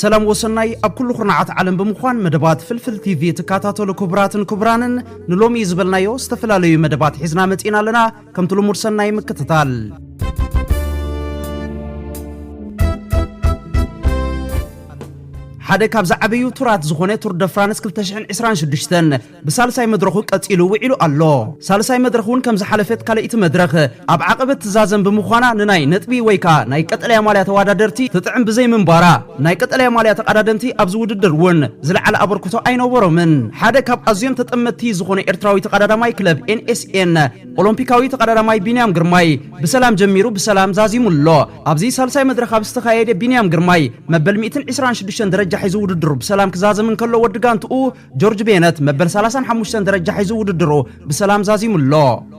ሰላም ወሰናይ ኣብ ኩሉ ኩርናዓት ዓለም ብምዃን መደባት ፍልፍል ቲቪ ትከታተሉ ክቡራትን ክቡራንን ንሎሚ ዝበልናዮ ዝተፈላለዩ መደባት ሒዝና መጺና ኣለና ከምቲ ልሙድ ሰናይ ምክትታል ሓደ ካብ ዝዓበዩ ቱራት ዝኾነ ቱር ደ ፍራንስ 226 ብሳልሳይ መድረኹ ቀጺሉ ውዒሉ ኣሎ። ሳልሳይ መድረኽ እውን ከም ዝሓለፈት ካልኣይቲ መድረኽ ኣብ ዓቐበት ትዛዘም ብምዃና ንናይ ነጥቢ ወይ ከኣ ናይ ቀጠልያ ማልያ ተዋዳደርቲ ትጥዕም ብዘይምንባራ ናይ ቀጠልያ ማልያ ተቓዳደምቲ ኣብዚ ውድድር እውን ዝለዓለ ኣበርክቶ ኣይነበሮምን። ሓደ ካብ ኣዝዮም ተጠመትቲ ዝኾነ ኤርትራዊ ተቓዳዳማይ ክለብ NSN ኦሎምፒካዊ ተቓዳዳማይ ቢንያም ግርማይ ብሰላም ጀሚሩ ብሰላም ዛዚሙ ኣሎ። ኣብዚ ሳልሳይ መድረኽ ኣብ ዝተኻየደ ቢንያም ግርማይ መበል ሚእትን ዕስራን ሽዱሽተን ደረጃ ሒዙ ውድድሩ ብሰላም ክዛዝም እንከሎ ወዲ ጋንትኡ ጆርጅ ቤነት መበል 35 ደረጃ ሒዙ ውድድሩ ብሰላም ዛዚሙ ኣሎ።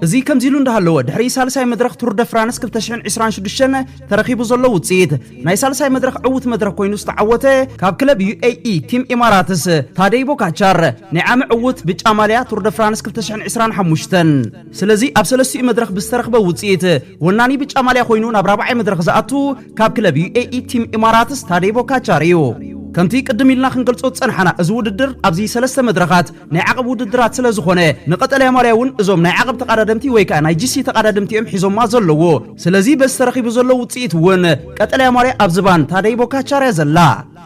እዚ ከምዚ ኢሉ እንዳሃለወ ድሕሪ ሳልሳይ መድረኽ ቱር ደ ፍራንስ 2026 ተረኺቡ ዘሎ ውፅኢት ናይ ሳልሳይ መድረኽ ዕውት መድረኽ ኮይኑ ዝተዓወተ ካብ ክለብ ዩኤኢ ቲም ኢማራትስ ታደይ ቦካቻር ናይ ዓሚ ዕውት ብጫ ማልያ ቱር ደ ፍራንስ 2025 ስለዚ ኣብ ሰለስቲኡ መድረኽ ብዝተረኽበ ውፅኢት ወናኒ ብጫ ማልያ ኮይኑ ናብ ራብዓይ መድረኽ ዝኣቱ ካብ ክለብ ዩኤኢ ቲም ኢማራትስ ታዴ ቦካቻር እዩ። ከምቲ ቅድም ኢልና ክንገልጾ ዝጸንሓና እዚ ውድድር ኣብዚ ሰለስተ መድረኻት ናይ ዓቐብ ውድድራት ስለ ዝኾነ ንቀጠልያ ማልያ እውን እዞም ናይ ዓቐብ ተቓዳደምቲ ወይ ከኣ ናይ ጂሲ ተቓዳድምቲ እዮም ሒዞማ ዘለዉ። ስለዚ በዚ ተረኺቡ ዘሎ ውጽኢት እውን ቀጠልያ ማልያ ኣብ ዝባን ታዴ ቦካቻር እያ ዘላ።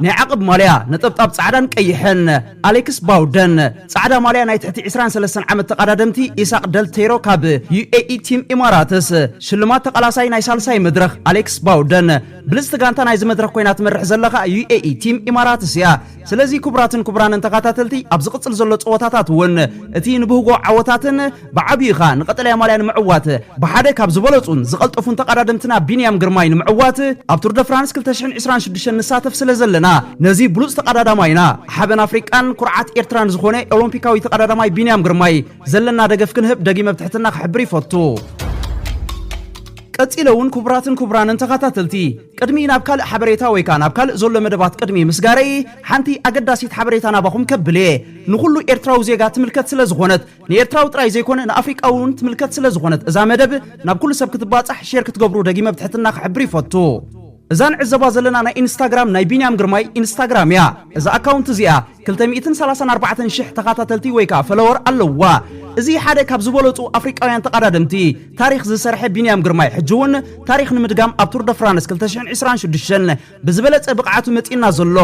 ናይ ዓቕብ ማልያ ነጠብጣብ ጻዕዳን ቀይሕን ኣሌክስ ባውደን፣ ጻዕዳ ማልያ ናይ ትሕቲ ዕስራን ሰለስተን ዓመት ተቐዳደምቲ ኢሳቕ ደልቴሮ ካብ ዩኤኢ ቲም ኢማራትስ፣ ሽልማት ተቓላሳይ ናይ ሳልሳይ መድረኽ ኣሌክስ ባውደን፣ ብልጽቲ ጋንታ ናይዚ መድረኽ ኮይና ትመርሕ ዘላ ከኣ ዩኤኢ ቲም ኢማራትስ እያ። ስለዚ ክቡራትን ክቡራንን ተኻታተልቲ ኣብ ዝቕጽል ዘሎ ጸወታታት እውን እቲ ንብህጎ ዓወታትን፣ ብዓብይኡ ከኣ ንቀጠልያ ማልያ ንምዕዋት ብሓደ ካብ ዝበለጹን ዝቀልጠፉን ተቃዳደምትና ቢንያም ግርማይ ንምዕዋት ኣብ ቱር ደ ፍራንስ ክልተ ሽሕን ዕስራን ሽዱሽተን ንሳተፍ ስለ ዘለና ነዚ ብሉጽ ተቃዳዳማይና ሓበን ኣፍሪቃን ኩርዓት ኤርትራን ዝኾነ ኦሎምፒካዊ ተቃዳዳማይ ቢንያም ግርማይ ዘለና ደገፍ ክንህብ ደጊመ ብ ትሕትና ክሕብር ይፈቱ። ቀጺለ ውን ኩቡራትን ኩቡራንን ተኻታተልቲ ቅድሚ ናብ ካልእ ሓበሬታ ወይ ከኣ ናብ ካልእ ዘሎ መደባት ቅድሚ ምስጋረይ ሓንቲ ኣገዳሲት ሓበሬታ ናባኹም ከብል እየ ንኹሉ ኤርትራዊ ዜጋ ትምልከት ስለ ዝኾነት ንኤርትራዊ ጥራይ ዘይኮነ ንኣፍሪቃዊ እውን ትምልከት ስለ ዝኾነት እዛ መደብ ናብ ኩሉ ሰብ ክትባጻሕ ሼር ክትገብሩ ደጊመ ብትሕትና ክሕብር ይፈቱ። እዛ ንዕዘባ ዘለና ናይ ኢንስታግራም ናይ ቢንያም ግርማይ ኢንስታግራም እያ። እዛ ኣካውንት እዚኣ ክልተ ሚእትን ሰላሳን ኣርባዕተን ሽሕ ተኻታተልቲ ወይ ከኣ ፈለወር ኣለውዋ። እዚ ሓደ ካብ ዝበለጹ ኣፍሪቃውያን ተቓዳደምቲ ታሪኽ ዝሰርሐ ቢንያም ግርማይ ሕጂ እውን ታሪኽ ንምድጋም ኣብ ቱር ደ ፍራንስ ክልተ ሽሕን ዕስራን ሽዱሽተን ብዝበለጸ ብቕዓቱ መጺኡና ዘሎ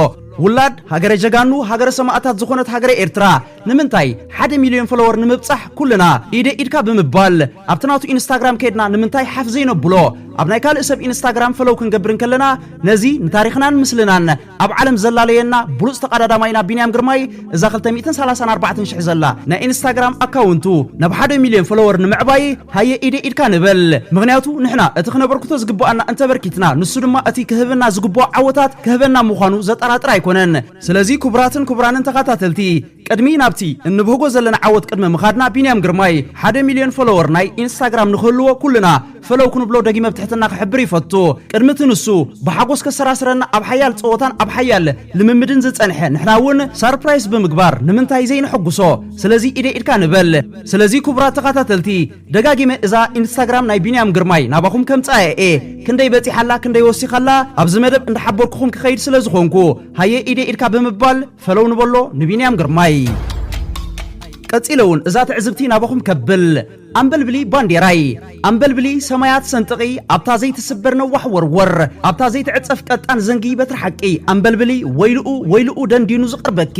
ውላድ ሃገረ ጀጋኑ ሃገረ ሰማእታት ዝኾነት ሃገረ ኤርትራ ንምንታይ ሓደ ሚልዮን ፎሎወር ንምብጻሕ ኩልና ኢደይ ኢድካ ብምባል ኣብቲ ናቱ ኢንስታግራም ከድና ንምንታይ ሓፍ ዘይነብሎ ኣብ ናይ ካልእ ሰብ ኢንስታግራም ፈለው ክንገብር እንከለና ነዚ ንታሪኽናን ምስልናን ኣብ ዓለም ዘላለየና ብሉጽ ተቓዳዳማይና ቢንያም ግርማይ እዛ ክልተ ሚእትን ሰላሳን ኣርባዕተን ሽሕ ዘላ ናይ ኢንስታግራም ኣካውንቱ ናብ ሓደ ሚልዮን ፎሎወር ንምዕባይ ሃየ ኢደይ ኢድካ ንበል ምኽንያቱ ንሕና እቲ ክነበርክቶ ዝግበኣና እንተበርኪትና ንሱ ድማ እቲ ክህበና ዝግበኦ ዓወታት ክህበና ምዃኑ ዘጠራጥር ኣይኮነን። ስለዚ ክቡራትን ክቡራንን ተኻታተልቲ ቅድሚ ናብቲ እንብህጎ ዘለና ዓወት ቅድሚ ምኻድና ቢንያም ግርማይ ሓደ ሚልዮን ፎሎወር ናይ ኢንስታግራም ንኽህልዎ ኩልና ፈለው ክንብሎ ደጊመ ብትሕትና ክሕብር ይፈቱ ቅድሚ እቲ ንሱ ብሓጎስ ከሰራስረና ኣብ ሓያል ጸወታን ኣብ ሓያል ልምምድን ዝጸንሐ ንሕና ውን ሳርፕራይስ ብምግባር ንምንታይ ዘይነሕጉሶ ስለዚ ኢደይ ኢድካ ንበል። ስለዚ ኩቡራት ተኻታተልቲ ደጋጊመ እዛ ኢንስታግራም ናይ ቢንያም ግርማይ ናባኹም ከምጽኣያ እየ ክንደይ በጺሓ ኣላ ክንደይ ወሲኻ ኣላ ኣብዚ መደብ እንዳሓበርኩኹም ክኸይድ ስለ ዝኾንኩ ሃየ ኢደይ ኢድካ ብምባል ፈለው ንበሎ ንቢንያም ግርማይ ቀጺለ ውን እዛ ትዕዝብቲ ናባኹም ከብል ኣንበልብሊ ባንዴራይ ኣንበልብሊ ሰማያት ሰንጥቒ ኣብታ ዘይትስበር ነዋሕ ወርወር ኣብታ ዘይትዕጸፍ ቀጣን ዘንጊ በትሪ ሓቂ ኣንበልብሊ ወይልኡ ወይልኡ ደንዲኑ ዝቐርበኪ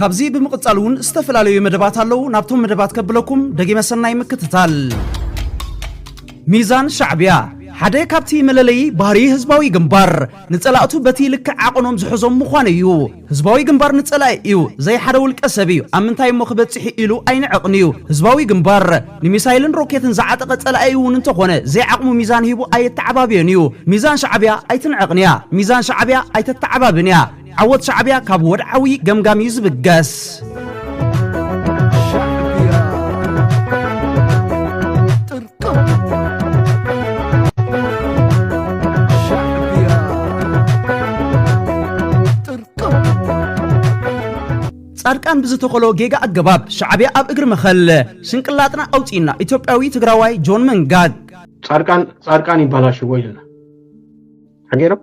ካብዚ ብምቕጻል እውን ዝተፈላለዩ መደባት ኣለዉ ናብቶም መደባት ከብለኩም ደጊመ ሰናይ ምክትታል ሚዛን ሻዕብያ ሓደ ካብቲ መለለዪ ባህሪ ህዝባዊ ግንባር ንጸላእቱ በቲ ልክዕ ዓቐኖም ዝሕዞም ምዃኑ እዩ። ህዝባዊ ግንባር ንጸላኢ እዩ፣ ዘይሓደ ውልቀ ሰብ እዩ። ኣብ ምንታይ እሞ ክበጽሕ ኢሉ ኣይንዕቕን እዩ። ህዝባዊ ግንባር ንሚሳይልን ሮኬትን ዝዓጠቐ ጸላኢ እውን እንተኾነ ዘይዓቕሙ ሚዛን ሂቡ ኣየተዓባብዮን እዩ። ሚዛን ሻዕብያ ኣይትንዕቕን እያ። ሚዛን ሻዕብያ ኣይተተዓባብን እያ። ዓወት ሻዕቢያ ካብ ወድዓዊ ገምጋም እዩ ዝብገስ። ጻድቃን ብዝተኸሎ ጌጋ ኣገባብ ሻዕብያ ኣብ እግሪ መኸል ሽንቅላጥና ኣውፂእና ኢትዮጵያዊ ትግራዋይ ጆን መንጋግ ጻድቃን ጻድቃን ይባላሽዎ ኢልና ሓገይሮም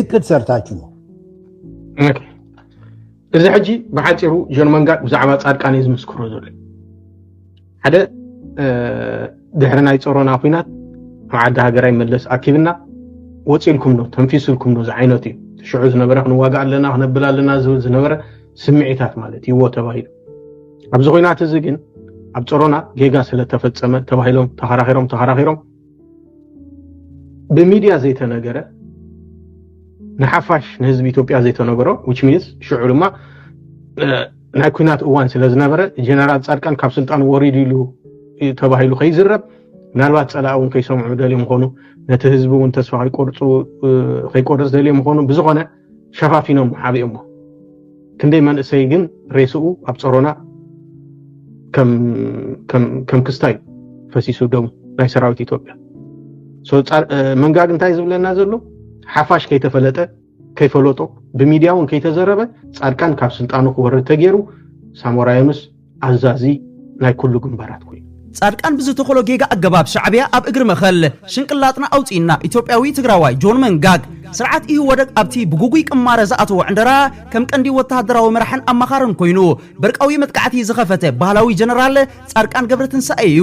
እቅድ ሰርታችሁ ነው። እዚ ሕጂ ብሓፂሩ ጆን መንጋድ ብዛዕባ ፃድቃን እዩ ዝምስክሮ ዘሎ ሓደ ድሕሪ ናይ ፀሮና ኩናት ኣብ ዓዲ ሃገራይ መለስ ኣኪብና ወፂልኩም ዶ ተንፊስልኩም ዶ ዝዓይነቱ እዩ ትሽዑ ዝነበረ ክንዋጋ ኣለና ክነብል ኣለና ዝብል ዝነበረ ስምዒታት ማለት ይዎ ተባሂሉ ኣብዚ ኩናት እዚ ግን ኣብ ፀሮና ጌጋ ስለተፈፀመ ተባሂሎም ተኸራኺሮም ተኸራኺሮም ብሚድያ ዘይተነገረ ንሓፋሽ ንህዝቢ ኢትዮጵያ ዘይተነገሮ ዊች ሚንስ ሽዑ ድማ ናይ ኩናት እዋን ስለ ዝነበረ ጀነራል ፃድቃን ካብ ስልጣን ወሪዱ ኢሉ ተባሂሉ ከይዝረብ ምናልባት ፀላእ እውን ከይሰምዑ ደልዮም ምኾኑ ነቲ ህዝቢ እውን ተስፋ ከይቆርፁ ከይቆርፅ ደልዮም ምኾኑ ብዝኾነ ሸፋፊኖም ዓብዮሞ ክንደይ መንእሰይ ግን ሬስኡ ኣብ ጸሮና ከም ክስታይ ፈሲሱ ደሙ ናይ ሰራዊት ኢትዮጵያ መንጋግ እንታይ ዝብለና ዘሎ ሓፋሽ ከይተፈለጠ ከይፈለጦ ብሚድያ እውን ከይተዘረበ ፃድቃን ካብ ስልጣኑ ክወርድ ተገይሩ ሳሞራ ዮኑስ ኣዛዚ ናይ ኩሉ ግንባራት ኮይኑ። ፃድቃን ብዝተኸሎ ጌጋ ኣገባብ ሻዕቢያ ኣብ እግሪ መኸል ሽንቅላጥና ኣውፂእና ኢትዮጵያዊ ትግራዋይ ጆን መንጋግ ስርዓት ኢህወደግ ኣብቲ ብጉጉይ ቅማረ ዝኣተዎ ዕንደራ ከም ቀንዲ ወታሃደራዊ መራሕን ኣማኻርን ኮይኑ በርቃዊ መጥቃዕቲ ዝኸፈተ ባህላዊ ጀነራል ፃድቃን ገብረትንሳኤ እዩ።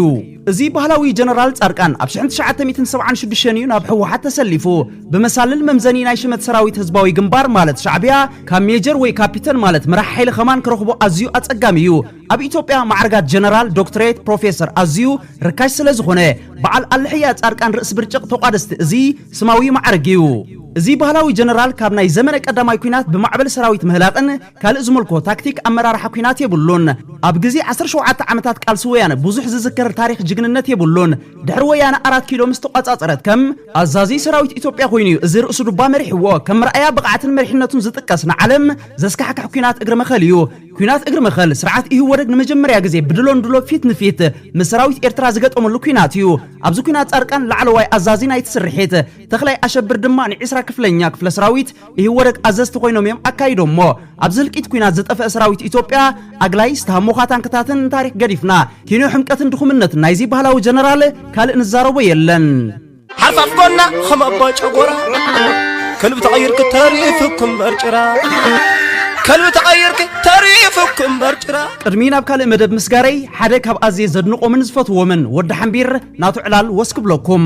እዚ ባህላዊ ጀነራል ጻድቃን ኣብ ሽሕን ትሽዓተ ሚእትን ሰብዓን ሽዱሽተን እዩ ናብ ህወሓት ተሰሊፉ። ብመሳልል መምዘኒ ናይ ሽመት ሰራዊት ህዝባዊ ግንባር ማለት ሻዕብያ ካብ ሜጀር ወይ ካፒተን ማለት መራሒ ሓይሊ ከማን ክረኽቦ ኣዝዩ ኣጸጋሚ እዩ። ኣብ ኢትዮጵያ ማዕርጋት ጀነራል፣ ዶክትሬት፣ ፕሮፌሰር ኣዝዩ ርካሽ ስለዝኾነ በዓል ኣልሕያ ጻድቃን ርእሲ ብርጭቕ ተቋደስቲ እዚ ስማዊ ማዕርግ እዩ። እዚ ባህላዊ ጀነራል ካብ ናይ ዘመነ ቀዳማይ ኲናት ብማዕበል ሰራዊት ምህላቕን፣ ካልእ ዝምልኮ ታክቲክ ኣመራርሓ ኩናት የብሉን። ኣብ ግዜ ዓሰርተ ሸውዓተ ዓመታት ቃልሲ ወያነ ብዙሕ ዝዝከር ታሪኽ ጅግንነት የብሉን። ድሕሪ ወያነ ኣራት ኪሎ ምስ ተቋጻጸረት ከም ኣዛዚ ሰራዊት ኢትዮጵያ ኮይኑ እዩ እዚ ርእሱ ዱባ መሪሕዎ። ከም መርኣያ ብቕዓትን መሪሕነቱን ዝጥቀስ ንዓለም ዘስካሕክሕ ኩናት እግሪ መኸል እዩ። ኩናት እግሪ መኸል ስርዓት ኢህወደግ ንመጀመርያ ግዜ ብድሎ ንድሎ ፊት ንፊት ምስ ሰራዊት ኤርትራ ዝገጠመሉ ኩናት እዩ። ኣብዚ ኩናት ጻድቃን ላዕለዋይ ኣዛዚ ናይቲ ስርሒት፣ ተኽላይ ኣሸብር ድማ ንዒስራ ክፍለኛ ክፍለ ሰራዊት ኢህወደግ ኣዘዝቲ ኮይኖም እዮም ኣካይዶሞ። ኣብዚ ህልቂት ኩናት ዝጠፈአ ሰራዊት ኢትዮጵያ ኣግላይ ስታሞኻ ታንክታትን ታሪክ ገዲፍና ኪንዮ ሕምቀትን ድኹምነትን ናይዚ ባህላዊ ጀነራል ካልእ ንዛረቦ የለን። ሓርፋፍ ጎና ከም ኣባ ጨጎራ ከልቢ ተቐይርኪ ተሪፍኩም በርጭራ ከልቢ ተቐይርኪ ተሪፍኩም በርጭራ ቅድሚ ናብ ካልእ መደብ ምስጋረይ ሓደ ካብ ኣዝየ ዘድንቆምን ዝፈትዎምን ወዲ ሓምቢር ናቱ ዕላል ወስ ክብለኩም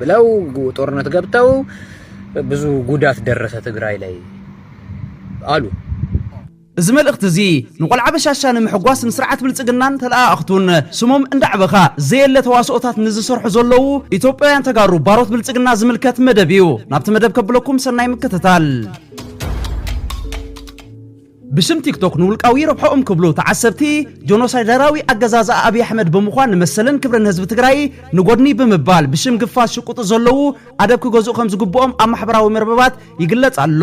ብለው ጦርነት ገብተው ብዙ ጉዳት ደረሰ ትግራይ ላይ ኣሉ። እዚ መልእኽቲ እዚ ንቆልዓ በሻሻ ንምሕጓስ ንስርዓት ብልፅግናን ተለኣኣኽቱን ስሞም እንዳዕበኻ ዘየለ ተዋስኦታት ንዝሰርሑ ዘለዉ ኢትዮጵያውያን ተጋሩ ባሮት ብልፅግና ዝምልከት መደብ እዩ። ናብቲ መደብ ከብለኩም ሰናይ ምክትታል። ብስም ቲክቶክ ንውልቃዊ ረብሐኦም ክብሉ ተዓሰብቲ ጆኖሳይደራዊ ኣገዛዝኣ ኣብይ ኣሕመድ ብምዃን ንመሰልን ክብርን ህዝቢ ትግራይ ንጎድኒ ብምባል ብሽም ግፋ ዝሽቁጡ ዘለዉ ኣደብ ክገዝኡ ከም ዝግብኦም ኣብ ማሕበራዊ መርበባት ይግለጽ ኣሎ።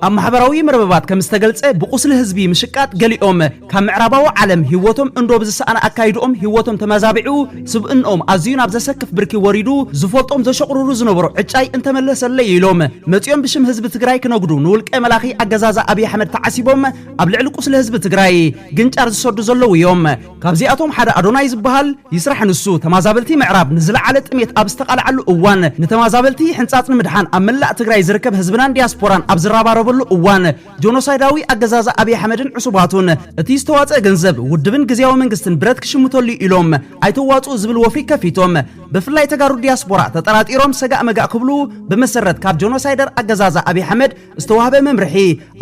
ኣብ ማሕበራዊ መርበባት ከም ዝተገልጸ ብቁስሊ ህዝቢ ምሽቃጥ ገሊኦም ካብ ምዕራባዊ ዓለም ህይወቶም እንዶ ብዝሰኣነ ኣካይድኦም ህይወቶም ተመዛቢዑ ስብእንኦም ኣዝዩ ናብ ዘሰክፍ ብርኪ ወሪዱ ዝፈልጦም ዘሸቑርሩ ዝነበሩ ዕጫይ እንተመለሰለይ ኢሎም መፂኦም ብሽም ህዝቢ ትግራይ ክነጉዱ ንውልቀ መላኺ ኣገዛዛ ኣብይ ኣሕመድ ተዓሲቦም ኣብ ልዕሊ ቁስሊ ህዝቢ ትግራይ ግንጫር ዝሰዱ ዘለዉ እዮም። ካብዚኣቶም ሓደ ኣዶናይ ዝበሃል ይስራሕ ንሱ ተማዛበልቲ ምዕራብ ንዝለዓለ ጥሜት ኣብ ዝተቓልዓሉ እዋን ንተማዛበልቲ ሕንፃፅ ንምድሓን ኣብ መላእ ትግራይ ዝርከብ ህዝብናን ዲያስፖራን ኣብ ዝረባረበሉ እዋን ጆኖሳይዳዊ ኣገዛዛ ኣብይ ኣሕመድን ዕሱባቱን እቲ ዝተዋፀ ገንዘብ ውድብን ግዝያዊ መንግስትን ብረት ክሽምተሉ እዩ ኢሎም ኣይተዋፅኡ ዝብል ወፍሪ ከፊቶም ብፍላይ ተጋሩ ዲያስፖራ ተጠራጢሮም ሰጋእ መጋእ ክብሉ ብመሰረት ካብ ጆኖሳይደር ኣገዛዛ ኣብይ ኣሕመድ ዝተዋህበ መምርሒ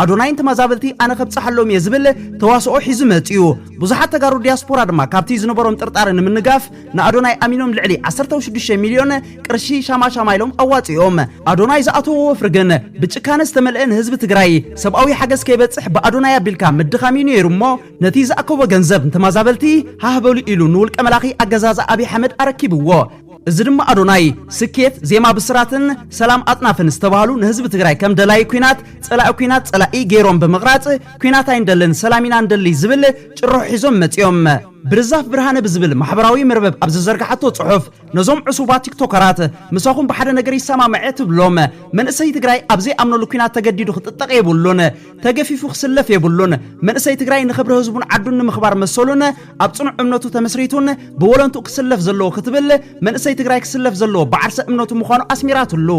ኣዶናይን ተማዛበልቲ ኣነ ከብፀሓሎም እየ ዝብል ተዋስኦ ሒዙ መፅዩ ብዙሓት ተጋሩ ዲያስፖራ ድማ ካብቲ ዝነበሮም ጥርጣረ ንምንጋፍ ንኣዶናይ ኣሚኖም ልዕሊ 16 ሚልዮን ቅርሺ ሻማሻማ ኢሎም ኣዋፂኦም ኣዶናይ ዝኣተዎ ወፍሪ ግን ብጭካነ ዝተመልአ ንህዝቢ ትግራይ ሰብኣዊ ሓገዝ ከይበፅሕ ብኣዶናይ ኣቢልካ ምድኻም እዩ ነይሩ እሞ ነቲ ዝኣከቦ ገንዘብ ንተማዛበልቲ ሃህበሉ ኢሉ ንውልቀ መላኺ ኣገዛዝ ኣቢ ሓመድ ኣረኪብዎ እዚ ድማ ኣዶናይ ስኬት ዜማ ብስራትን ሰላም ኣጥናፍን ዝተባህሉ ንህዝቢ ትግራይ ከም ደላይ ኩናት ፀላኢ ኩናት ፀላኢ ገይሮም ብምቕራፅ ኩናት ኣይንደልን ሰላም ኢና ንደሊ ዝብል ጭርሖ ሒዞም መፂኦም ብርዛፍ ብርሃነ ብዝብል ማሕበራዊ መርበብ ኣብ ዝዘርግሓቶ ጽሑፍ፣ ነዞም ዕሱባት ቲክቶከራት ምሳኹም ብሓደ ነገር ይሰማማዕ'የ እትብሎም፣ መንእሰይ ትግራይ ኣብ ዘይኣምነሉ ኲናት ተገዲዱ ክጥጠቕ የብሉን፣ ተገፊፉ ክስለፍ የብሉን፣ መንእሰይ ትግራይ ንኽብሪ ህዝቡን ዓዱን ንምኽባር መሰሉን ኣብ ጽኑዕ እምነቱ ተመስሪቱን ብወለንትኡ ክስለፍ ዘለዎ ክትብል፣ መንእሰይ ትግራይ ክስለፍ ዘለዎ ብዓርሰ እምነቱ ምዃኑ ኣስሚራትሉ።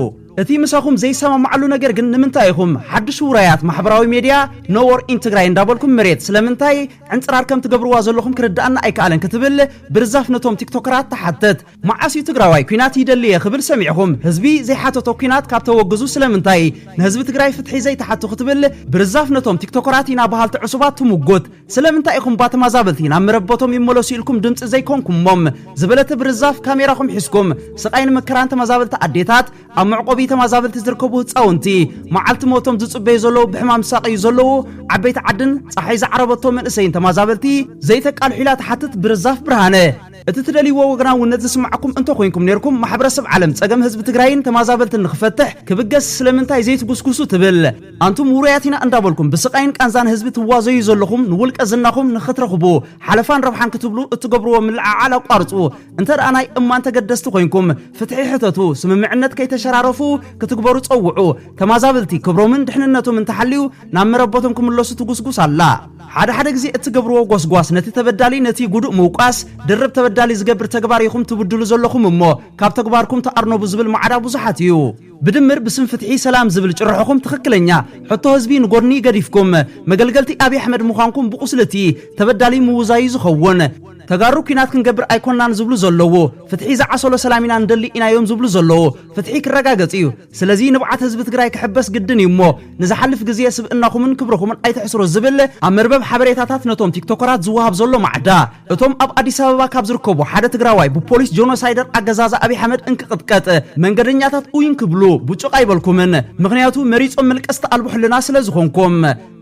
እቲ ምሳኹም ዘይሰማማዓሉ ነገር ግን ንምንታይ ኢኹም ሓድሽ ውራያት ማሕበራዊ ሜድያ No War in Tigray እንዳበልኩም መሬት ስለምንታይ ዕንጽራር ከም ትገብርዋ ዘለኹም ክርድኣና ኣይከኣለን ክትብል ብርዛፍ ነቶም ቲክቶከራት ትሓትት። መዓስ እዩ ትግራዋይ ኲናት ይደሊ እየ ክብል ሰሚዕኹም? ህዝቢ ዘይሓተቶ ኲናት ካብ ተወግዙ ስለምንታይ ንህዝቢ ትግራይ ፍትሒ ዘይትሓቱ ክትብል ብርዛፍ ነቶም ቲክቶከራት ኢና በሃልቲ ዕሱባት ትሙጉት። ስለምንታይ ኢኹም እባ ተማዛበልቲ ናብ መረበቶም ይመለሱ ኢልኩም ድምጺ ዘይኮንኩሞም? ዝበለተ ብርዛፍ ካሜራኹም ሒዝኩም ስቓይን መከራን ተመዛበልቲ ኣዴታት ኣብ መዕቆቢ ተመዛበልቲ ዝርከቡ ህፃውንቲ መዓልቲ ሞቶም ዝፅበዩ ዘለዉ ብሕማም ዝሳቀዩ ዘለዉ ዓበይቲ ዓድን ፀሓይ ዝዓረበቶ መንእሰይን ተመዛበልቲ ዘይተቃልሑ ኢላ ትሓትት ብርዛፍ ብርሃነ እቲ ትደልይዎ ወገናውነት ዝስማዓኩም እንተኮይንኩም ነይርኩም ማሕበረሰብ ዓለም ፀገም ህዝቢ ትግራይን ተመዛበልትን ንክፈትሕ ክብገስ ስለምንታይ ዘይትጉስጉሱ ትብል ኣንቱም ውሩያት ኢና እንዳበልኩም ብስቃይን ቃንዛን ህዝቢ ትዋዘዩ ዘለኹም ንውልቀ ዝናኹም ንክትረኽቡ ሓለፋን ረብሓን ክትብሉ እትገብርዎ ምልዕዓል ኣቋርፁ እንተ ደኣ ናይ እማን ተገደስቲ ኮይንኩም ፍትሒ ሕተቱ፣ ስምምዕነት ከይተሸራረፉ ክትግበሩ ጸውዑ፣ ተማዛብልቲ ክብሮምን ድሕንነቶምን ተሓልዩ ናብ መረበቶም ክምለሱ ትጉስጉስ ኣላ። ሓደ ሓደ ግዜ እትገብርዎ ጎስጓስ ነቲ ተበዳሊ ነቲ ጉዱእ ምውቃስ ድርብ ተበዳሊ ዝገብር ተግባር ኢኹም ትብድሉ ዘለኹም እሞ ካብ ተግባርኩም ተኣርነቡ ዝብል ማዕዳ ብዙሓት እዩ። ብድምር ብስም ፍትሒ ሰላም ዝብል ጭርሖኹም ትኽክለኛ ሕቶ ህዝቢ ንጎድኒ ገዲፍኩም መገልገልቲ ኣብይ ኣሕመድ ምዃንኩም ብቁስሊ እቲ ተበዳሊ ምውዛዩ ዝኸውን። ተጋሩ ኩናት ክንገብር ኣይኮናን ዝብሉ ዘለዉ ፍትሒ ዝዓሰሎ ሰላም ኢና ንደሊ ኢናዮም ዝብሉ ዘለዉ ፍትሒ ክረጋገፅ እዩ ስለዚ ንብዓት ህዝቢ ትግራይ ክሕበስ ግድን እዩ እሞ ንዝሓልፍ ግዜ ስብእናኹምን ክብርኹምን ኣይተሕስሩ ዝብል ኣብ መርበብ ሓበሬታታት ነቶም ቲክቶከራት ዝወሃብ ዘሎ ማዕዳ እቶም ኣብ ኣዲስ ኣበባ ካብ ዝርከቡ ሓደ ትግራዋይ ብፖሊስ ጆኖሳይደር ኣገዛዛ ኣብይ ኣሕመድ እንክቕጥቀጥ መንገደኛታት ኡይ እንክብሉ ቡጭቕ ኣይበልኩምን ምኽንያቱ መሪፆም መልቀስቲ ኣልቦ ሕልና ስለዝኾንኩም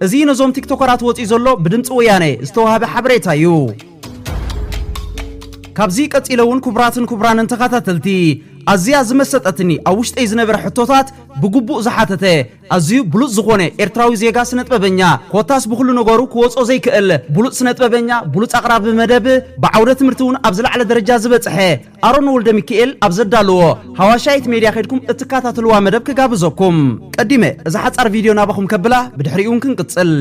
እዚ ነዞም ቲክቶከራት ወጺኡ ዘሎ ብድምጺ ወያነ ዝተዋህበ ሓበሬታ እዩ። ካብዚ ቀጺለ እውን ክቡራትን ክቡራንን ተኸታተልቲ ኣዝያ ዝመሰጠትኒ ኣብ ውሽጠይ ዝነበረ ሕቶታት ብግቡእ ዝሓተተ ኣዝዩ ብሉጽ ዝኾነ ኤርትራዊ ዜጋ ስነጥበበኛ ኮታስ ብኹሉ ነገሩ ክወጾ ዘይክእል ብሉጽ ስነጥበበኛ ብሉጽ ኣቕራቢ መደብ ብዓውደ ትምህርቲ እውን ኣብ ዝለዓለ ደረጃ ዝበጽሐ ኣሮን ወልደሚኪኤል ኣብ ዘዳለዎ ሃዋሻይት ሜድያ ከድኩም እትካታተልዋ መደብ ክጋብዘኩም ቀዲመ እዛ ሓጻር ቪድዮ ናባኹም ከብላ ብድሕሪኡን ክንቅጽል።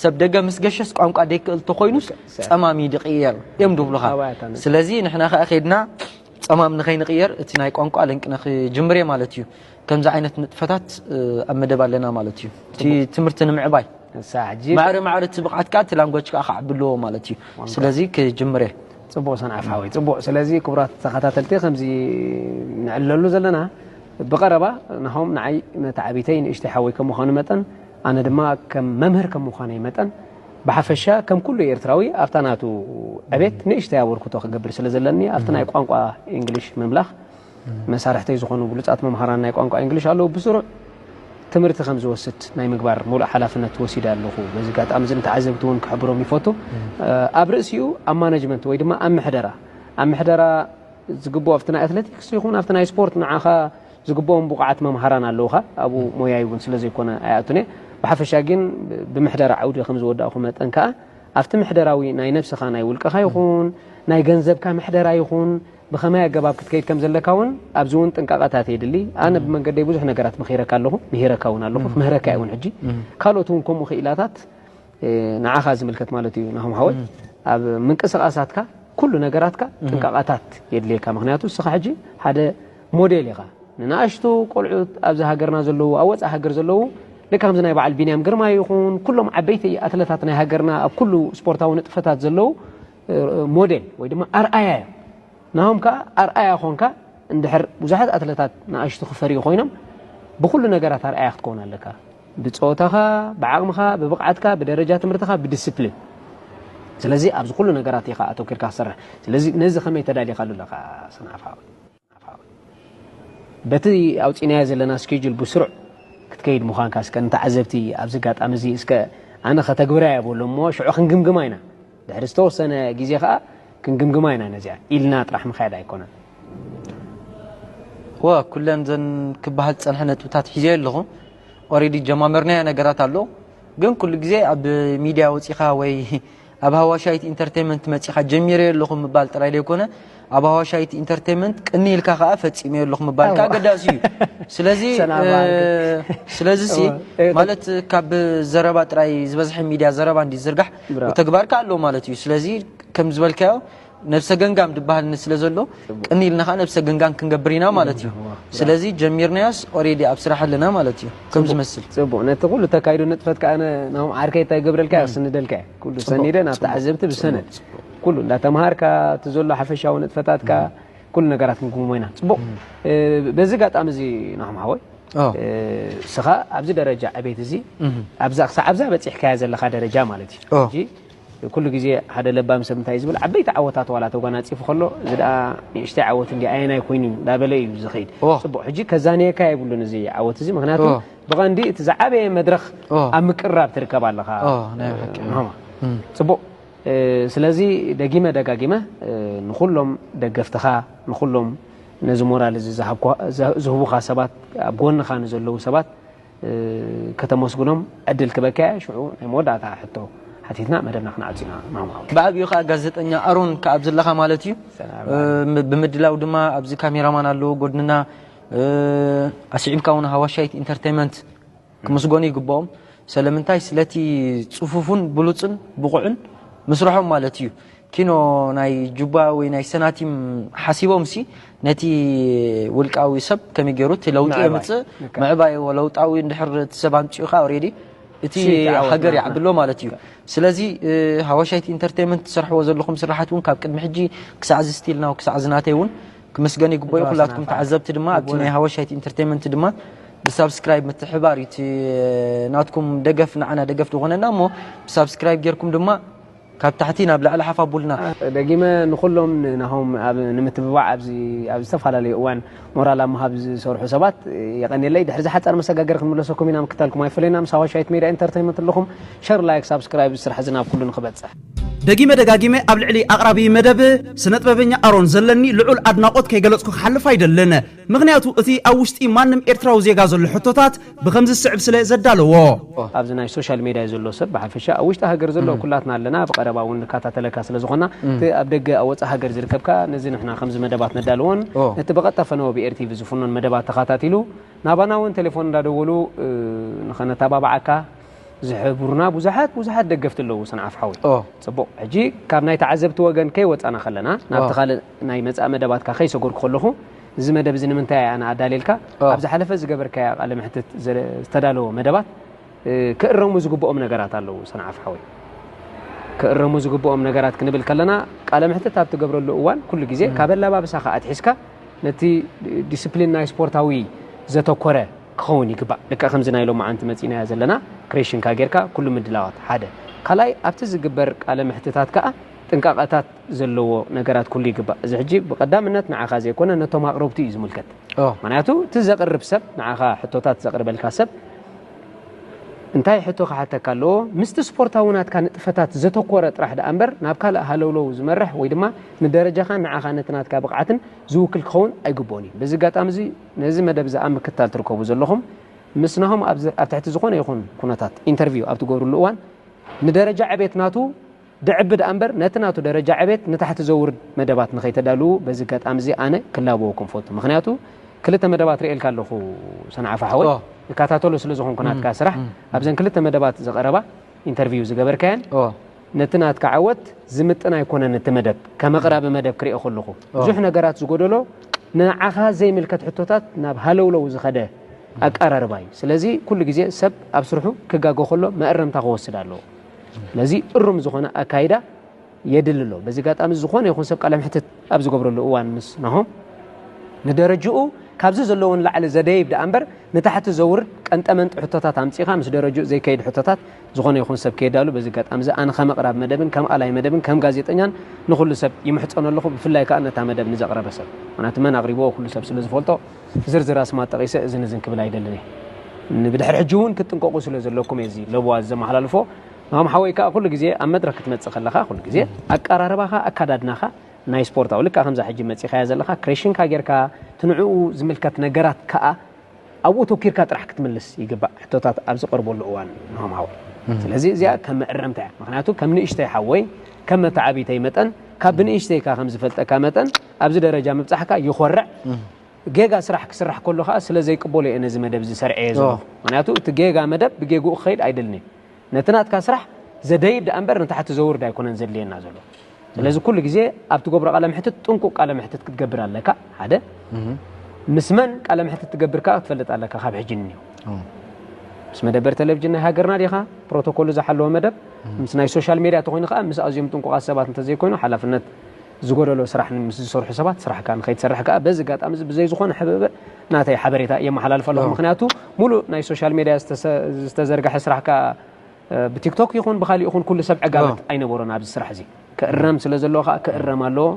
ሰብ ደገ ምስ ገሸስ ቋንቋ ደይክእል ተኾይኑስ ጸማም እዩ ድቕየር እዮም ድብሉኻ ስለዚ ንሕና ከኣ ኬድና ጸማም ንኸይንቕየር እቲ ናይ ቋንቋ ለንቅነ ክጅምር እየ ማለት እዩ ከምዚ ዓይነት ንጥፈታት ኣብ መደብ ኣለና ማለት እዩ እቲ ትምህርቲ ንምዕባይ ማዕረ ማዕረ እቲ ብቕዓት ከዓ እቲ ላንጓጅ ከዓ ክዓቢ ኣለዎ ማለት እዩ ስለዚ ክጅምር እየ ፅቡቅ ሰንዓፍ ሓወይ ፅቡቅ ስለዚ ክቡራት ተኸታተልቲ ከምዚ ንዕለሉ ዘለና ብቀረባ ናሆም ንዓይ መታዕቢተይ ንእሽተይ ሓወይ ከም ምዃኑ መጠን ኣነ ድማ ከም መምህር ከም ምዃነይ መጠን ብሓፈሻ ከም ኩሉ ኤርትራዊ ኣብታ ናቱ ዕቤት ንእሽተይ ኣበርክቶ ክገብር ስለ ዘለኒ ኣብቲ ናይ ቋንቋ እንግሊሽ ምምላኽ መሳርሕተይ ዝኾኑ ብሉጻት መምሃራን ናይ ቋንቋ ኢንግሊሽ ኣለዉ፣ ብስሩዕ ትምህርቲ ከም ዝወስድ ናይ ምግባር ምሉእ ሓላፍነት ወሲደ ኣለኹ። በዚ ኣጋጣሚ እዚ ንተዓዘብቲ እውን ክሕብሮም ይፈቱ። ኣብ ርእሲኡ ኣብ ማነጅመንት ወይ ድማ ኣብ ምሕደራ ኣብ ምሕደራ ዝግብኦ ኣብቲ ናይ ኣትለቲክስ ይኹን ኣብቲ ናይ ስፖርት ንዓኻ ዝግብኦም ብቑዓት መምሃራን ኣለውኻ። ኣብኡ ሞያይ እውን ስለ ዘይኮነ ኣይኣቱን እየ። ብሓፈሻ ግን ብምሕደራ ዓውዲ ከም ዝወዳእኩ መጠን ከኣ ኣብቲ ምሕደራዊ ናይ ነብስኻ ናይ ውልቀኻ ይኹን ናይ ገንዘብካ ምሕደራ ይኹን ብኸመይ ኣገባብ ክትከይድ ከም ዘለካ እውን ኣብዚ እውን ጥንቃቐታት የድሊ። ኣነ ብመንገደይ ብዙሕ ነገራት መኺረካ ኣለኹ፣ ምሂረካ እውን ኣለኹ፣ ክምህረካ እየ እውን ሕጂ። ካልኦት እውን ከምኡ ክኢላታት ንዓኻ ዝምልከት ማለት እዩ ናሆም ሓወይ ኣብ ምንቅስቓሳትካ ኩሉ ነገራትካ ጥንቃቐታት የድልየካ ምክንያቱ እስኻ ሕጂ ሓደ ሞዴል ኢኻ ንናእሽቱ ቆልዑት ኣብዚ ሃገርና ዘለዉ ኣብ ወፃእ ሃገር ዘለዉ ልካ ከምዚ ናይ በዓል ቢንያም ግርማ ይኹን ኩሎም ዓበይቲ ኣትለታት ናይ ሃገርና ኣብ ኩሉ ስፖርታዊ ንጥፈታት ዘለዉ ሞዴል ወይ ድማ ኣርኣያ እዮም ናሆም ከዓ ኣርኣያ ኮንካ እንድሕር ብዙሓት ኣትለታት ንኣሽቱ ክፈርዩ ኮይኖም ብኩሉ ነገራት ኣርኣያ ክትከውን ኣለካ ብፀወታኻ ብዓቕምኻ ብብቕዓትካ ብደረጃ ትምህርትኻ ብዲስፕሊን ስለዚ ኣብዚ ኩሉ ነገራት ኢኻ ኣተኪርካ ክትሰርሕ ስለዚ ነዚ ከመይ ተዳሊኻሉ ኣለኻ ሰንዓፈ ሓወይ ኣፋዊ በቲ ኣውጺእናዮ ዘለና ስኬጁል ብስሩዕ ክትከይድ ምዃንካ እስከ ንተዓዘብቲ ኣብዚ ኣጋጣሚ እዚ እስከ ኣነ ከተግብራ'የ በሎ እሞ ሽዑ ክንግምግማ ኢና ድሕሪ ዝተወሰነ ግዜ ከኣ ክንግምግማ ኢና ነዚኣ ኢልና ጥራሕ ምክያድ ኣይኮነን። እወ ኩለን ዘን ክበሃል ዝጸንሐ ነጥብታት ሒዘዮ ኣለኹ ኦሬዲ ጀማመርናዮ ነገራት ኣሎ ግን ኩሉ ግዜ ኣብ ሚድያ ወጺኻ ወይ ኣብ ሃዋሻይት ኢንተርተይመንት መጺኻ ጀሚረዮ ኣለኹ ምባል ጥራይ ዘይኮነ ኣብ ሃዋሻይት ኢንተርተይመንት ቅንይ ኢልካ ከኣ ፈጺመዮ ኣለኹ ምባል ከኣ ኣገዳሲ እዩ። ስለዚ ስለዚ ሲ ማለት ካብ ዘረባ ጥራይ ዝበዝሐ ሚድያ ዘረባ እንዲ ዝዝርጋሕ ብተግባር ከኣ ኣሎ ማለት እዩ። ስለዚ ከም ዝበልካዮ ነብሰ ገንጋም ድበሃል ስለ ዘሎ ቅኒ ኢልና ከኣ ነብሰ ገንጋም ክንገብር ኢና ማለት እዩ። ስለዚ ጀሚርናዮስ ኦሬዲ ኣብ ስራሕ ኣለና ማለት እዩ ከም ዝመስል። ጽቡቕ ነቲ ኩሉ ተካይዶ ንጥፈት ከኣ ናሆም ዓርከይ እንታይ ይገብረልካ ክስንደልካ እየ ኩሉ ሰኒደ ናብ ተዓዘብቲ ብሰነድ ኩሉ እንዳተምሃርካ እቲ ዘሎ ሓፈሻዊ ንጥፈታትካ ኩሉ ነገራት ክንክምሞ ኢና። ጽቡቕ በዚ ኣጋጣሚ እዚ ናሆም ሓወይ እስኻ ኣብዚ ደረጃ ዕቤት እዚ ኣብዛ ክሳዕ ኣብዛ በጺሕካያ ዘለኻ ደረጃ ማለት እዩ ኩሉ ግዜ ሓደ ለባም ሰብ እንታይ እዩ ዝብል ዓበይቲ ዓወታት ዋላ ተጓናጺፉ ከሎ እዚ ደኣ ንእሽተይ ዓወት እንድያ ኣየናይ ኮይኑ እዩ እንዳበለ እዩ ዝኸይድ ኦ። ጽቡቕ ሕጂ ከዛንየካ የብሉን እዚ ዓወት እዚ ምክንያቱ ኦ። ብቐንዲ እቲ ዝዓበየ መድረኽ ኦ። ኣብ ምቅርራብ ትርከብ ኣለኻ ኦ፣ ናይ ብሓቂ። ምህማ እም። ጽቡቕ እ፣ ስለዚ ደጊመ ደጋጊመ እ፣ ንኹሎም ደገፍትኻ ንኹሎም ነዚ ሞራል እዚ ዝሃብኩ- ዝሃ- ዝህቡኻ ሰባት ኣብ ጎንኻ ንዘለዉ ሰባት ከተመስግኖም ዕድል ክበካያ ሽዑ ናይ መወዳእታ ሕቶ ሓቲትና መደብና ክንዓጽ ኢና ማማ ብዓቢኡ ከኣ ጋዜጠኛ ኣሮን ከኣ ኣብ ዘለኻ ማለት እዩ ብምድላው ድማ ኣብዚ ካሜራማን ኣለዎ ጎድንና ኣስዒብካ እውን ሃዋሻይት ኢንተርቴይመንት ክምስጎኑ ይግብኦም ሰለምንታይ ስለቲ ጽፉፉን ብሉጽን ብቑዕን ምስርሖም ማለት እዩ ኪኖ ናይ ጁባ ወይ ናይ ሰናቲም ሓሲቦምሲ ነቲ ውልቃዊ ሰብ ከመይ ገይሩ እቲ ለውጢ ምዕባይ። የምጽእ ምዕባይዎ ለውጣዊ እንድሕር እቲ ሰብ ኣምጺኡ ከኣ ኦሬዲ እቲ ሽይ እቲ ዓወት ሃገር ናትና። ይዓብሎ ማለት እዩ ስለዚ እ፣ ሃዋሻይት ኢንተርተይመንት ትሰርሕዎ ዘለኹም ስርሓት እውን ካብ ቅድሚ ሕጂ ክሳዕ እዚ ስቲል ናው ክሳዕ እዚ ናተይ እውን ክምስገን ይግበኦ እዩ ኩላትኩም ተዋስና ተዓዘብቲ ድማ ኣብቲ ናይ ሃዋሻይት ኢንተርተይመንት ድማ ብሳብስክራይብ ምትሕብባር እዩ እቲ ናትኩም ደገፍ ንዓና ደገፍ ዝኾነና እሞ ብሳብስክራይብ ጌርኩም ድማ ካብ ታሕቲ ናብ ላዕሊ ሓፍ ኣቡልና። ደጊመ ንኹሎም ንናሆም ኣብ ንምትብባዕ ኣብዚ ኣብ ዝተፋላለዩ እዋን ሞራል ኣብ ምሃብ ዝሰርሑ ሰባት የቀንየለይ ድሕሪ ዝሓጻር መሰጋገሪ ክንምለሰኩም ኢና ምክታልኩም ኣይፈለየና ምስ ኣዋሻይት ሜድያ ኢንተርተይመንት ኣለኹም ሸር ላይክ ሳብስክራይብ እዚ ስራሕ እዚ ናብ ኩሉ ንኽበጽሕ ደጊመ ደጋጊመ ኣብ ልዕሊ ኣቅራቢ መደብ ስነጥበበኛ ኣሮን ዘለኒ ልዑል ኣድናቆት ከይገለጽኩ ክሓልፍ ኣይደልን ምኽንያቱ እቲ ኣብ ውሽጢ ማንም ኤርትራዊ ዜጋ ዘሎ ሕቶታት ብኸምዚ ዝስዕብ ስለ ዘዳለዎ። ኣብዚ ናይ ሶሻል ሜድያ ዘሎ ሰብ ብሓፈሻ ኣብ ውሽጢ ሃገር ዘሎ ኩላትና ኣለና ብቀረባ ውን ንካታተለካ ስለ ዝኾና እቲ ኣብ ደገ ኣብ ወጻእ ሃገር ዝርከብ ከኣ ነዚ ንሕና ከምዚ መደባት ነዳልዎን ነቲ ብቀጥታ ፈነወ ብ ኤሪ-ቲቪ ዝፍኖን መደባት ተኻታቲሉ ናባና ውን ቴሌፎን እንዳደወሉ ንኸነታባብዓካ ዝሕብሩና ብዙሓት ብዙሓት ደገፍቲ ኣለዉ ሰንዓፈ ሓወይ ጽቡቕ ሕጂ ካብ ናይ ተዓዘብቲ ወገን ከይወጻና ከለና ናብቲ ካልእ ናይ መጻኢ መደባትካ ከይሰጎርኩ ከለኹ እዚ መደብ እዚ ንምንታይ ኣነ ኣዳልየልካ ኣብ ዝሓለፈ ዝገበርካያ ቃለ መሕትት ዝተዳለወ መደባት ክእረሙ ዝግብኦም ነገራት ኣለዉ ሰንዓፍ ሓወይ ክእረሙ ዝግብኦም ነገራት ክንብል ከለና ቃለ መሕትት ኣብ ትገብረሉ እዋን ኩሉ ግዜ ካብ ኣላባብሳኻ ኣትሒዝካ ነቲ ዲስፕሊን ናይ ስፖርታዊ ዘተኮረ ክኸውን ይግባእ ልክዕ ከምዚ ናይ ሎማዓንቲ መፂናያ ዘለና ክሬሽንካ ጌርካ ኩሉ ምድላዋት ሓደ ካልኣይ ኣብቲ ዝግበር ቃለ መሕትታት ከዓ ጥንቃቐታት ዘለዎ ነገራት ኩሉ ይግባእ እዚ ሕጂ ብቀዳምነት ንዓኻ ዘይኮነ ነቶም ኣቅረብቲ እዩ ዝምልከት ምክንያቱ እቲ ዘቅርብ ሰብ ንዓኻ ሕቶታት ዘቅርበልካ ሰብ እንታይ ሕቶ ክሓተካ ኣለዎ ምስቲ ስፖርታዊ ናትካ ንጥፈታት ዘተኮረ ጥራሕ ደኣ እምበር ናብ ካልእ ሃለውለው ዝመርሕ ወይ ድማ ንደረጃኻን ንዓኻ ነቲ ናትካ ብቕዓትን ዝውክል ክኸውን ኣይግብኦን እዩ በዚ ኣጋጣሚ እዚ ነዚ መደብ እዚ ኣብ ምክታል ትርከቡ ዘለኹም ምስ ናሆም ኣብ ትሕቲ ዝኾነ ይኹን ኩነታት ኢንተርቪው ኣብ ትገብርሉ እዋን ንደረጃ ዕቤት ናቱ ድዕብ ድኣ እምበር ነቲ ናቱ ደረጃ ዕቤት ንታሕቲ ዘውርድ መደባት ንኸይተዳልዉ በዚ ኣጋጣሚ እዚ ኣነ ክላበወኩም እፈቱ ምኽንያቱ ክልተ መደባት ሪኤልካ ኣለኹ ሰንዓፈ ሓወይ እካታተሎ ስለ ዝኾንኩ ናትካ ስራሕ ኣብዘን ክልተ መደባት ዝቐረባ ኢንተርቪው ዝገበርካየን ነቲ ናትካ ዓወት ዝምጥን ኣይኮነን እቲ መደብ ከም ኣቕራቢ መደብ ክሪኦ ከለኹ ብዙሕ ነገራት ዝጎደሎ ንዓኻ ዘይምልከት ሕቶታት ናብ ሃለውለው ዝኸደ ኣቀራርባ እዩ ስለዚ ኩሉ ግዜ ሰብ ኣብ ስርሑ ክጋገ ከሎ መእረምታ ክወስድ ኣለዎ ስለዚ እሩም ዝኾነ ኣካይዳ የድሊ ኣሎ። በዚ ኣጋጣሚ ዝኾነ ይኹን ሰብ ቃለ መሕትት ኣብ ዝገብረሉ እዋን ምስ ናሆም ንደረጅኡ ካብዚ ዘለዎ ንላዕሊ ዘደይብ ደኣ እምበር ንታሕቲ ዘውርድ ቀንጠመንጢ ሕቶታት ኣምፂኻ ምስ ደረጅኡ ዘይከይድ ሕቶታት ዝኾነ ይኹን ሰብ ከየዳሉ በዚ ኣጋጣሚ እዚ ኣነ ከም ኣቕራብ መደብን ከም ኣላይ መደብን ከም ጋዜጠኛን ንኹሉ ሰብ ይምሕፀኖ ኣለኹ ብፍላይ ከዓ ነታ መደብ ንዘቕረበ ሰብ ምክንያቱ መን ኣቕሪብዎ ኩሉ ሰብ ስለ ዝፈልጦ ዝርዝር ኣስማት ጠቒሰ እዝን እዝን ክብል ኣይደልን እየ። ንብድሕሪ ሕጂ እውን ክትጥንቀቑ ስለ ዘለኩም እየ እዚ ለበዋ ዘመሓላልፎ። ናሆም ሓወይ ከኣ ኩሉ ግዜ ኣብ መድረኽ ክትመጽእ ከለኻ ኩሉ ግዜ ኣቀራርባኻ ኣካዳድናኻ ናይ ስፖርታዊ ልክዕ ከምዛ ሕጂ መጺኻያ ዘለኻ ክሬሽንካ ጌርካ እቲ ንዕኡ ዝምልከት ነገራት ከኣ ኣብኡ ተኪርካ ጥራሕ ክትምልስ ይግባእ ሕቶታት ኣብ ዝቀርበሉ እዋን ናሆም ሓወይ ስለዚ እዚኣ ከም መእረምታ እያ ምክንያቱ ከም ንእሽተይ ሓወይ ከም መተዓቢተይ መጠን ካብ ብንእሽተይካ ከም ዝፈልጠካ መጠን ኣብዚ ደረጃ ምብጻሕካ ይኾርዕ። ጌጋ ስራሕ ክስራሕ ከሎ ከኣ ስለ ዘይቅበሎ እየ ነዚ መደብ እዚ ሰርዐየ ዘለኹ። ምክንያቱ እቲ ጌጋ መደብ ብጌግኡ ክኸይድ ኣይደልን እየ። ነቲ ናትካ ስራሕ ዘደይብ ደኣ እምበር ንታሕቲ ዘውርድ ኣይኮነን ዘድልየና ዘሎ። ስለዚ ኩሉ ግዜ ኣብ ትገብሮ ቃለ መሕትት ጥንቁቅ ቃለ መሕትት ክትገብር ኣለካ ሓደ ምስ መን ቃለ መሕትት ትገብር ከኣ ክትፈልጥ ኣለካ ካብ ሕጂ ንኒው ምስ መደበር ቴሌቭዥን ናይ ሃገርና ዲኻ ፕሮቶኮሉ ዝሓለወ መደብ ምስ ናይ ሶሻል ሜድያ ተኮይኑ ከኣ ምስ ኣዝዮም ጥንቁቃት ሰባት እንተዘይኮይኑ ሓላፍነት ዝጎደሎ ስራሕ ምስ ዝሰርሑ ሰባት ስራሕካ ንኸይትሰርሕ ከኣ በዚ ኣጋጣሚ እዚ ብዘይ ዝኾነ ሕብእብእ ናተይ ሓበሬታ የመሓላልፍ ኣለኹ። ምኽንያቱ ሙሉእ ናይ ሶሻል ሜድያ ዝተዘርገሐ ስራሕካ ብቲክቶክ ይኹን ብኻሊእ ይኹን ኩሉ ሰብ ዕጋበት ኣይነበሮን ኣብዚ ስራሕ እዚ ክእረም ስለ ዘለዎ ከኣ ክእረም ኣለዎ።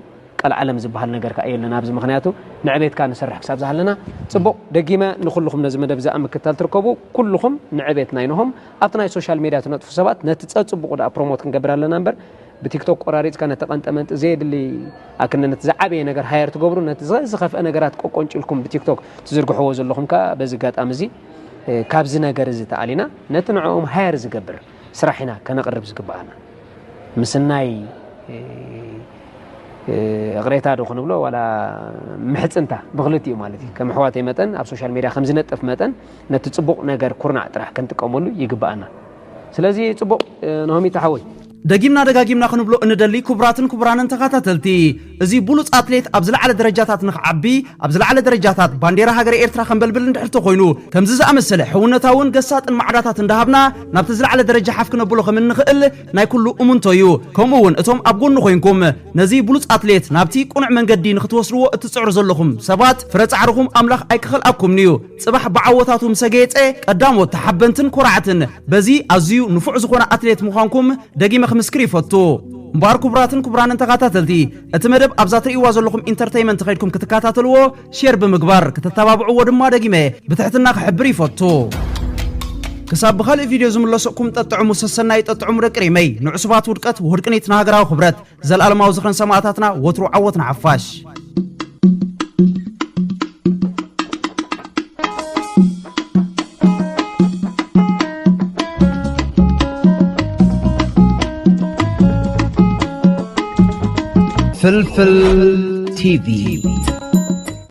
ቀልዓለም ዝበሃል ነገር ከኣ የለን ኣብዚ ምኽንያቱ ንዕቤትካ ንሰርሕ ክሳብ ዝሃለና ጽቡቕ። ደጊመ ንኹልኹም ነዚ መደብ እዚ ኣብ ምክትታል ትርከቡ ኩልኹም ንዕቤት ናይ ነሆም ኣብቲ ናይ ሶሻል ሜድያ ትነጥፉ ሰባት ነቲ ጸጽቡቑ ደኣ ፕሮሞት ክንገብር ኣለና እምበር ብቲክቶክ ቆራሪጽካ ነቲ ቀንጠመንጢ ዘየድሊ ኣክነ ነቲ ዝዓበየ ነገር ሃየር ትገብሩ ነቲ ዝኸፍአ ነገራት ቆቆንጭልኩም ብቲክቶክ ትዝርግሕዎ ዘለኹም ከኣ በዚ ኣጋጣሚ እዚ ካብዚ ነገር እዚ ተኣሊና ነቲ ንዕኦም ሃየር ዝገብር ስራሕ ኢና ከነቕርብ ዝግብኣና ምስናይ እቕሬታ ዶ ክንብሎ ዋላ ምሕፅንታ ብክልቲኡ ማለት እዩ ከም ኣሕዋተይ መጠን ኣብ ሶሻል ሜድያ ከም ዝነጥፍ መጠን ነቲ ፅቡቕ ነገር ኩርናዕ ጥራሕ ክንጥቀመሉ ይግብኣና ስለዚ ጽቡቅ ኖሆሚታ ሓወይ። ደጊምና ደጋጊምና ክንብሎ እንደሊ ኩቡራትን ኩቡራንን ተኻታተልቲ እዚ ቡሉጽ ኣትሌት ኣብ ዝላዓለ ደረጃታት ንኽዓቢ ኣብ ዝላዓለ ደረጃታት ባንዴራ ሃገረ ኤርትራ ከንበልብል እንድሕር ተኾይኑ ከምዚ ዝኣመሰለ ሕውነታውን ገሳጥን ማዕዳታት እንዳሃብና ናብቲ ዝላዓለ ደረጃ ሓፍ ክነብሎ ከም እንኽእል ናይ ኩሉ እሙንቶ እዩ ከምኡ ውን እቶም ኣብ ጎኑ ኮይንኩም ነዚ ቡሉጽ ኣትሌት ናብቲ ቁኑዕ መንገዲ ንኽትወስድዎ እትጽዕሩ ዘለኹም ሰባት ፍረ ጻዕርኹም ኣምላኽ ኣይክኸልኣኩምንዩ ጽባሕ ብዓወታቱ ምሰ ጌጸ ቀዳሞት ተሓበንትን ኮራዕትን በዚ ኣዝዩ ንፉዕ ዝኾነ ኣትሌት ምዃንኩም ደጊመ ክምስክር ይፈቱ። እምበኣር ክቡራትን ክቡራንን ተኻታተልቲ እቲ መደብ ኣብዛ ትርእይዋ ዘለኹም ኢንተርተይመንት ከይድኩም ክትካታተልዎ ሼር ብምግባር ክተተባብዕዎ ድማ ደጊመ ብትሕትና ክሕብር ይፈቱ። ክሳብ ብኻልእ ቪድዮ ዝምለሰኩም ጠጥዕሙ ሰሰናዩ ጠጥዕሙ ደቂ ሪመይ ንዕሱባት ውድቀት ውህድ ቅኒት ንሃገራዊ ክብረት ዘልኣለማዊ ዝኽርን ሰማእታትና ወትሩ ዓወት ንሓፋሽ። ፍልፍል ቲቪ